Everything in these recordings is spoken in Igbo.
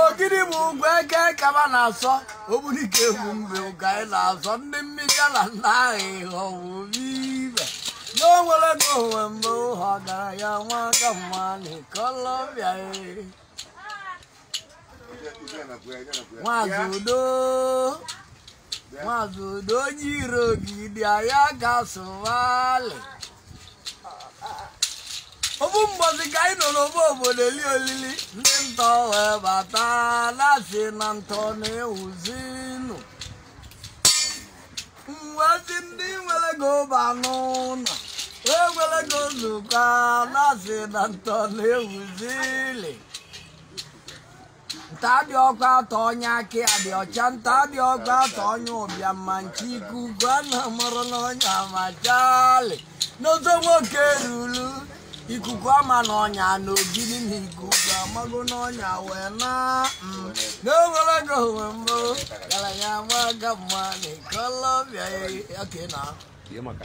ogidi bụ ugwu eke kaba na-asọ ogbunike egwu mgbe ụga anyị na-azọ ndị mmiri ala nna ahụ ịghọ bụ ibe n'onwere na onwe mgbe ụhọ gara ya nwa aka mma na Colombia maazị udo maazị udo onye iro gị dị anya ka sụwalị ofu mbọsị ka anyị nọ n'ofu obodo eli olili ndị ntọ wee bata na-asị na ntọ na-ewuzinụ ụmụazị ndị nwere ego ba n'ụnọ wee were ego nzukọ na-asị na ntọ na-ewuzili nta dị ọkụ atọ onye aka ya dị ọcha nta dị ọkụ atọ onye ụbịam na-eche ikuku ana amarọ n'ọnya amachali n'ozo nwoke ruru ikuku ama na ọnya na ogidi na ikuku amago na ọnya wee na mm, n'o nwere ego nwee mbụ ọgaranya amaka mma na Colombia ya oke na Ihe maka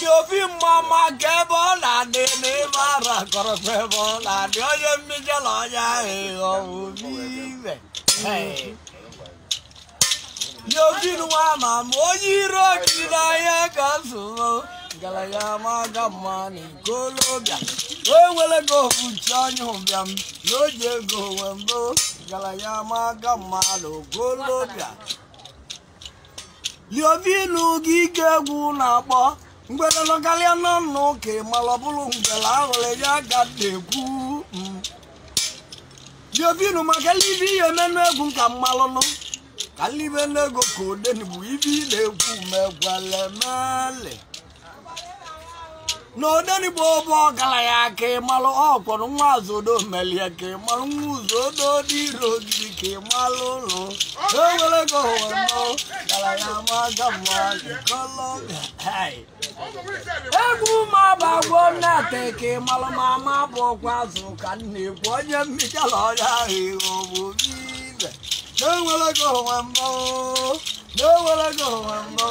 liovinu mmama ka ebe ọ na-adị n'ebe ara kọrọkwa ebe ọ na-adị onye mmejọ na onye ahụ ịghọ obi ibe liovinu ama ama onye iro gị dị anya ka nsụrụ ọgalanya amaka mma na Colombia o nwere ka ofuchi onye ụbịam na o ji ego nwee mbụ ọgalanya amaka mma na Colombia liovinu gị ka egwu na-akpọ ngwere nọkarịa n'ọnụ ka ị mara ọ bụrụ ngwere ahụrụ ya aga na-ekwu mm. liovinu makalị ibe yemenụ egwu ka m malụnụ kalị ibe n'ego ka odenigbo ive na-ekwu mekwala emele na odenigbo bụ ọgaranya ka ị malụ ọkwọrọ nwa azodo melie ka ị malụ nwa uzodo dị ire ogidi ka ị malụ ụlọ nwere ego ụwa nọ ọgaranya amaka mma na Colombia hai egwu ma bụ agwọ nnate ka ị malụ ma ama bụ ọkwa azụ ka m na-ekwu onye mmichala ọrịa ahụ ịghọ bụ ibe na o nwere ego nwee mmụọ na o nwere ego nwee mmụọ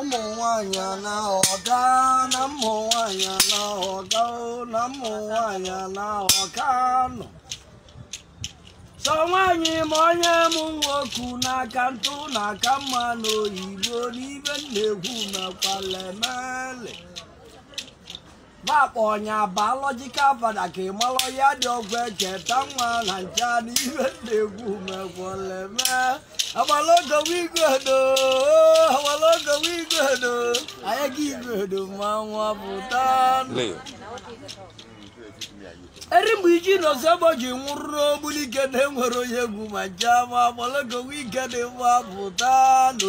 ụmụ nwanyị anaghọga na ụmụ nwanyị anaghọga o, na ụmụ nwanyị anaghọga nọ sọ nwanyị ma onye mụ nwoke n'aka ntụ na aka mma n'oyibo n'ive m na-ekwu mekwala emele ba kpọ nya biological father ka ị mara ya dị ọgwụ echeta nwa na ncha na ibe na-egwu mekwaleme agbalogowigodo agbalogowigodo anyị ga igodo ma nwa pụta eri mgbe iji nọsegbo ji nwụrụ n'ogbuli ike na-enwere onye egwu ma ncha ma agbalogowi ike dị mma pụta nụ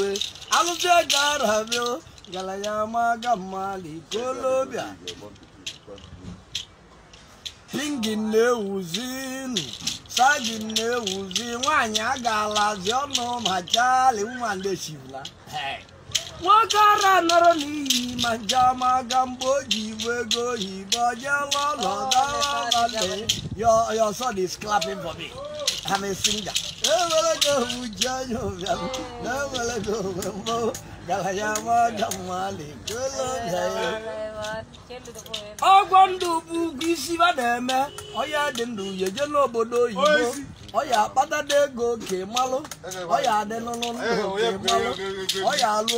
alụsị ego arabịa gara ya ama aga mmalị Colombia pingin na-ewuzinu sagin na-ewuzi nwaanyị agalazi ọnụ ma chali nwa ndị chibula nwoke ara nọrọ n'iyi ma njama aga mgbe o ji ibu ego oyibo jeela ụlọ gawaale your your son is clapping for me I'm a singer ewere gị owu ji anya ụbịam na ewere gị owe mbụ ọgwọ ndụ bụ ugwu isi ba na-eme ọ ya dị ndụ ya eje n'obodo oyibo ọ ya akpatada ego oke malụ ọ ya adị n'ụlọ ndụ oke malụ ọ ya alụ